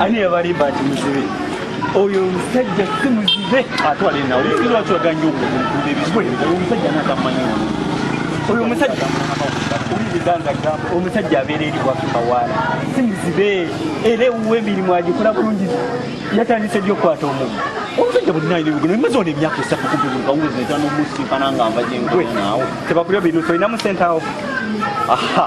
ani yabalimba nti muzibe oyo omusajja si muzibe ate walinawlwakiganya okuuda ebizibu omusajja natamanyi oyo omusajja omusajja abeera eri wakibawaala si muzibe era ewuwa emirimu agikola bulungi yatandise ddi okukwata omumu omusajja bwenaebimaze ona emyaka esatu kubiuawezeetanomusinkana nga nva gyenkwe naawe tebakulya bintu tolinamu sente awo aha